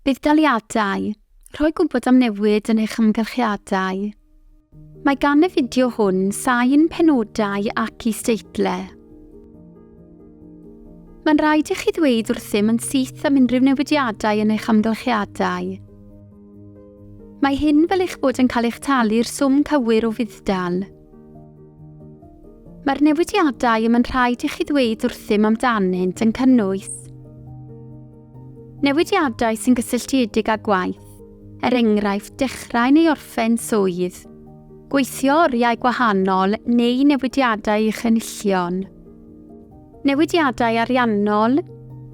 Budd-daliadau, Rhoi gwybod am newid yn eich amgylchiadau. Mae gan y fideo hwn sain, penodau ac isdeitlau. Mae'n rhaid i chi ddweud wrthym yn syth am unrhyw newidiadau yn eich amgylchiadau. Mae hyn fel eich bod yn cael eich talu'r swm cywir o fudd-dal. Mae'r newidiadau y mae'n rhaid i chi ddweud wrthym amdanynt yn cynnwys newidiadau sy'n gysylltiedig â gwaith, er enghraifft dechrau neu orffen swydd, gweithio oriau gwahanol neu newidiadau i'ch enillion, newidiadau ariannol,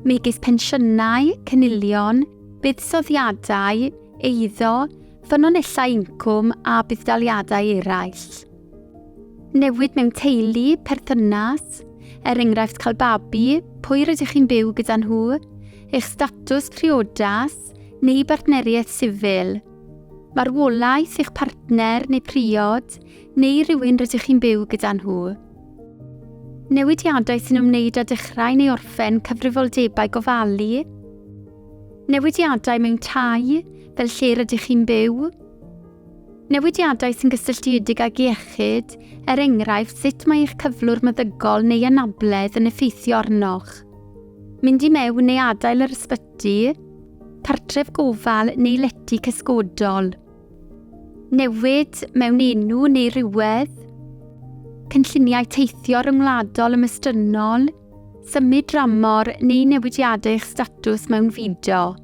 megis pensiynau, cynilion, buddsoddiadau, eiddo, ffynonellau incwm a budd-daliadau eraill. Newid mewn teulu, perthynas, er enghraifft cael babi, pwy rydych chi'n byw gyda nhw, eich statws priodas neu bartneriaeth sifil, marwolaeth eich partner neu priod neu rhywun rydych chi'n byw gyda nhw. Newidiadau sy'n ymwneud â dechrau neu orffen cyfrifoldebau gofalu, Newidiadau mewn tai, fel lle rydych chi'n byw. Newidiadau sy'n gysylltiedig ag iechyd, er enghraifft sut mae eich cyflwr meddygol neu anabledd yn effeithio arnoch. Mynd i mewn neu adael yr ysbyty, cartref gofal neu lety cysgodol. Newid mewn enw neu rywedd. Cynlluniau teithio ryngwladol ymestynnol. Symud dramor neu newidiadau eich statws mewn fideo.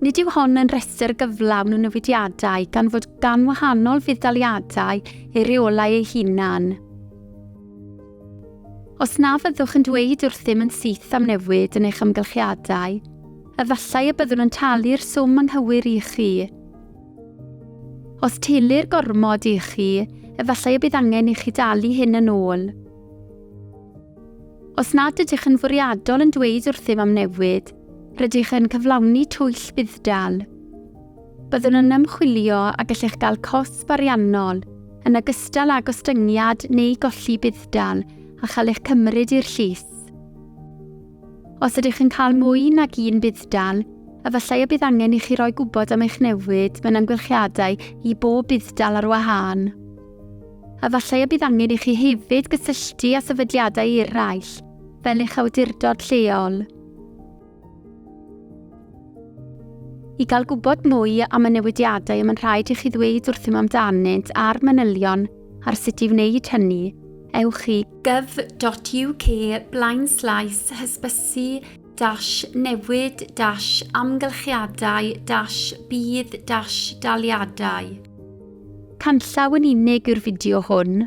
Nid yw hon yn rhestr gyflawn o newidiadau gan fod gan wahanol fudd-daliadau ei reolau ei hunan. Os na fyddwch yn dweud wrthym yn syth am newid yn eich amgylchiadau, efallai y byddwn yn talu'r swm anghywir i chi. Os telir gormod i chi, efallai y bydd angen i chi dalu hyn yn ôl. Os nad ydych yn fwriadol yn dweud wrthym am newid, rydych yn cyflawni twyll budd-dal. Byddwn yn ymchwilio a gallech gael cosb ariannol, yn ogystal â gostyngiad neu golli budd-dal a chael eich cymryd i'r llys. Os ydych yn cael mwy nag un budd-dal, efallai y bydd angen i chi roi gwybod am eich newid mewn amgylchiadau i bob budd-dal ar wahân. Efallai y bydd angen i chi hefyd gysylltu â sefydliadau eraill, fel eich awdurdod lleol, i gael gwybod mwy am y newidiadau y mae'n rhaid i chi ddweud wrthym amdanynt a'r manylion ar sut i wneud hynny. Ewch i gov.uk blaenslaes hysbysu dash newid dash amgylchiadau dash bydd dash daliadau. Canllaw yn unig yw'r fideo hwn.